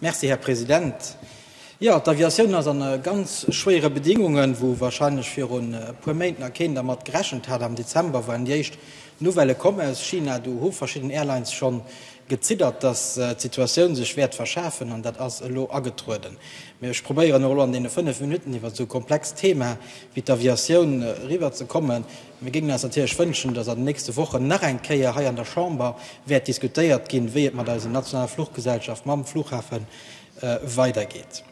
Merci, Här President. Jo, d'Aviatioun ass an ganz schwéiere Bedingungen, wou wahrscheinlech viru puer Méint nach keen dermat gerechent hat. Am Dezember waren déi éischt Nouvellë komm aus China. Do hu verschidden Airlines schonn geziddert, dass d'Situatioun sech wäert verschaarfen, an dat ass elo agetrueden. Mee ech probéieren och elo an deene fënnef Minutten iwwer esou komplex Thema wéi d'Aviatioun eriwwer ze kommen. Mir géingen eis natierlech wënschen, dass an den nächste Wochen nach eng Kéier hei an der Chamber wäert diskutéiert ginn, wéi et mat eisen nationale Fluchgesellschaft, mam Flughafen weidergeet.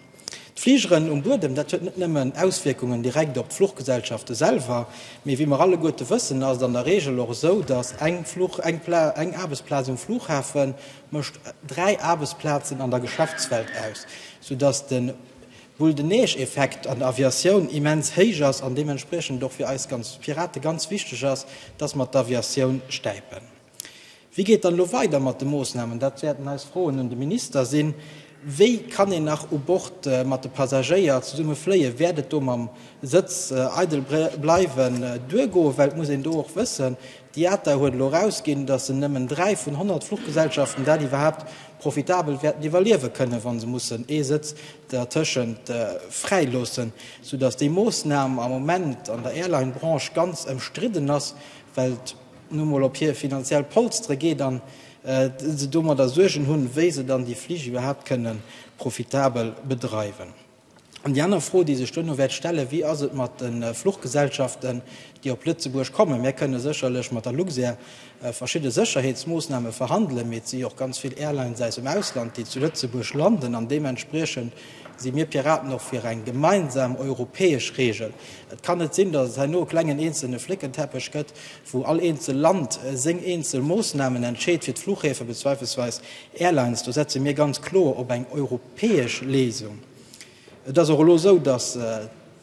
D'Fligeren um Buedem, dat huet net nëmmen Auswierkungen direkt op d'Fluchgesellschafte selwer, mee wéi mer alleguerte wëssen, ass et an der Reegel och esou, dass eng Aarbechtsplaz um Flughafen mécht dräi Aarbechtsplazen an der Geschäftswelt aus, soudass de Wuel den Neescheffekt an der Aviatioun immens héich ass an deementspriechend och fir eis ganz Pirate ganz wichteg ass, dass mer d'Aviatioun stäipen. Wéi geet dann elo weider mat de Moosnamen? Dat wäerten eis Froen un de Minister sinn. Wéi kann een nach u Bord mat de Passagéier zesumme fléien? Wäert et do mam Sëtz eidel bleiwen duergoen? Well et muss een do och wëssen, d'IATA huet elo erausginn, dass se nëmmen dräi vun 100 Fluchgesellschaften dat iwwerhaapt profitabel wäerten iwwerliewe kënnen, wa se mussen ee Sëtz dertëschent fräi loossen, sou datt déi Moossnam am Moment an der Airline-Branche ganz ëmstridden ass, well et nu emol op hir finanziell Polstere geet an se domadder Suergen hunn, wéi se dann déi Flich iwwerhaapt kënnen profitabel bedreiwen. An déi aner Fro, déi sech duerno wäert stellen, Wéi ass et mat de Fluchgesellschaften, déi op Lëtzebuerg kommen? Mir kënnen sécherlech mat der Luxair verschidde Sécherheetsmoossname verhandelen, mee et si jo och ganz vill Airlines aus dem Ausland, déi zu Lëtzebuerg landen. An deementspriechend si mir Piraten och fir eng gemeinsam europäesch Reegel. Et kann net sinn, datt et herno e klengen eenzelne Fléckenteppech gëtt, wou all eenzel Land seng eenzel Moossnamen entscheet, fir d'Fluchhäfe bezweifelsweis Airlines, do setze mir ganz kloer op eng europäesch Léisung. Et ass och elo esou, datt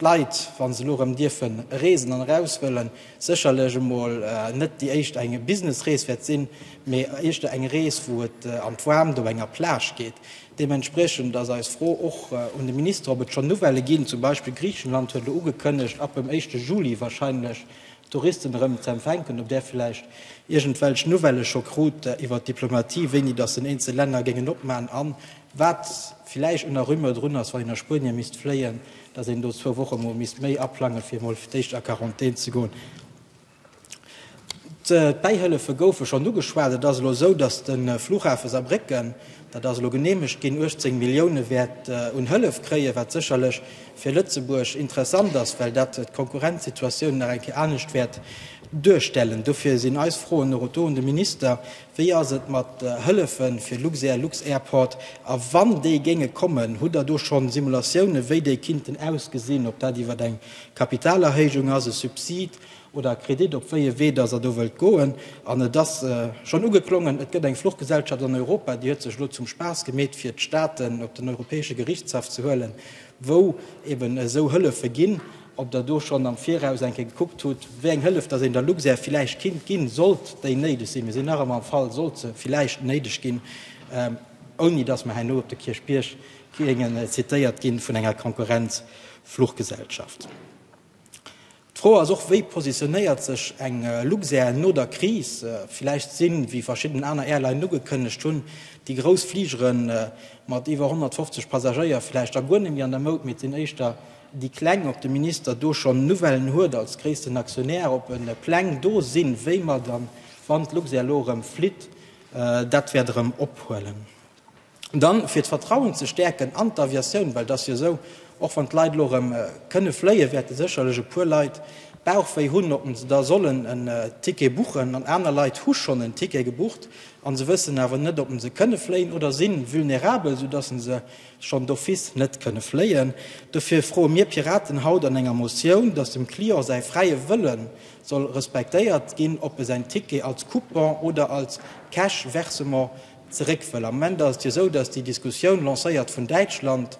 d'Leit, wa se elo erëm dierfen reesen an eraus wëllen, sécherlech emol net déi éischt eng Businessrees wäert sinn, mee éischter eng Rees, wou et an d'Waarmt op enger Plage geet. Deementspriechend ass eis Fro och un de Minister, ob et schonn Nouvellë ginn. Zum Beispill Griichenland huet elo ugekënnegt, ab dem éischte Juli warscheinlech Touristen erëm z'empfänken, ob där vläicht iergendwelch Nouvellë scho krut iwwer d'Diplomatie, wéini datt den eenzel Länner géingen opman a wat vläicht un der Rumeur drun ass, wann een a Spuenie misst fléien, datt een do zwou Woche mol misst méi aplange fir mol d'éischt a Quarantän ze goen. D'Bäihëllefe goufe schonn ugeschwat. Et ass elo esou, datt de Flughafe Saarbrécken, Dat ass elo geneemegt ginn. 18 Millioune wäert un Hëllef kréien, wat sécherlech fir Lëtzebuerg interessant ass, well dat d'Konkurrenzsituatioun nach eng Kéier anescht wäert duerstellen. Dofir sinn eis Froen och do un de Minister, Wéi ass et mat Hëllefe fir Luxair, Lux-Airport? A wann déi géinge kommen, hutt Der do schonn Simulatioune wéi déi kinnten ausgesinn, ob dat iwwer eng Kapitalerhéijung ass, e Subsid, oder Kredit, op wéi ee Wee dass Der do wëllt goen. An et ass schonn ugeklongen, Et gëtt eng Fluchgesellschaft an Europa, déi huet sech elo zum Spaass gemeet, fir d'Staaten op den Europäesche Gerichtshaff ze huelen, wou eeben esou Hëllefe ginn. Ob Der do schonn am Viraus eng Kéier gekuckt hutt, wéi eng Hëllef dass een der Luxair villäicht kinnt ginn, sollt déi néideg sinn? Mir sinn nach ëmmer am Fall, sollt se villäicht néideg ginn, ouni dass mer herno op de Kierchbierg géingen zitéiert gi vun enger Konkurrenz-Fluchgesellschaft. D'Fro ass och, wéi positionéiert sech eng Luxair no der Kris? Villäicht sinn, wéi verschidden aner Airlinen ugekënnegt hunn, déi grouss Fligere mat iwwer 150 Passagéier villäicht da guer net méi an der Moud, mee et sinn éischter déi Kleng. Ob de Minister do schonn Nouvellen huet als gréissten Aktionär, ob Pläng do sinn, wéi mer dann, wann d'Luxair elo erëm flitt, dat wäert erëm ophuelen? Dann, fir d'Vertrauen ze stäerken an d'Aviatioun, well et ass jo esou, och wann d'Leit elo erëm kënne fléien, wäerte sécherlech e puer Leit Bauchwéi hunn, ob se da sollen en Ticket buchen. An aner Leit hu schonn en Ticket gebucht a se wëssen awer net, ob se kënne fléien oder si vulnerabel, soudatt se se schonn d'office net kënne fléien. Dofir froe mir Piraten haut an enger Motioun, datt dem Client säi fräie Wëlle soll respektéiert ginn, ob e säin Ticket als Coupon oder als Cash-Versement zeréck wëll. Am Moment ass et jo esou, datt déi Diskussioun, lancéiert vun Däitschland,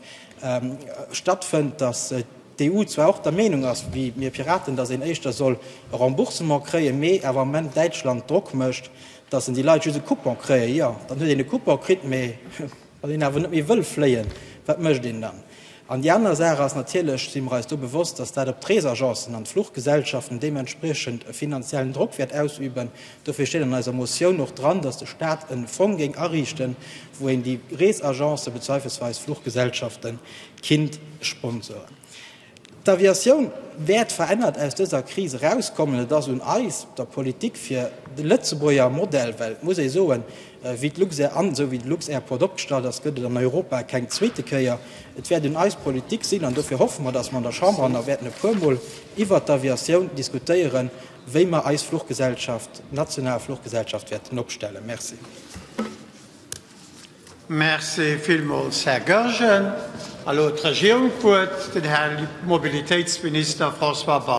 stattfënnt, datt d'EU zwar och der Meenung ass wéi mir Piraten, datt een éischter soll e Remboursement kréien, mee awer am Moment Däitschland Drock mécht, datt en déi Leit just e Coupon kréie. Jo, dann huet een e Coupon kritt, mee wann een awer net méi wëll fléien, wat mécht een dann? An déi aner Saach ass natierlech, si mer eis do bewosst, dass dat op d'Reesagencen an d'Fluchgesellschaften deementspriechend e finanziellen Drock wäert ausüben. Dofir steet an eiser Motioun och dran, dass de Stat e Fong géing ariichten, wou een déi Reesagencen bezweifelsweis d'Fluchgesellschaften kinnt sponsoren. D'Aviatioun wäert verännert aus dëser Kris erauskommen. Et ass un eis, der Politik, fir de lëtzebuerger Modell, well et muss ee soen, Wéi d'Luxair an esou wéi de Luxair Port opgestallt ass, gëtt et an Europa keng zweete Kéier. Et wäert un eis Politik sinn, an dofir hoffe mer, datt mer an der Chamber nach wäerten e puermol iwwert d'Aviatioun diskutéieren, wéi mer eis Fluchgesellschaft, national Fluchgesellschaft wäerten opstellen. Merci. Merci villmools, Här Goergen. Elo huet d'Regierung d'Wuert, den Här Mobilitéitsminister François Bausch.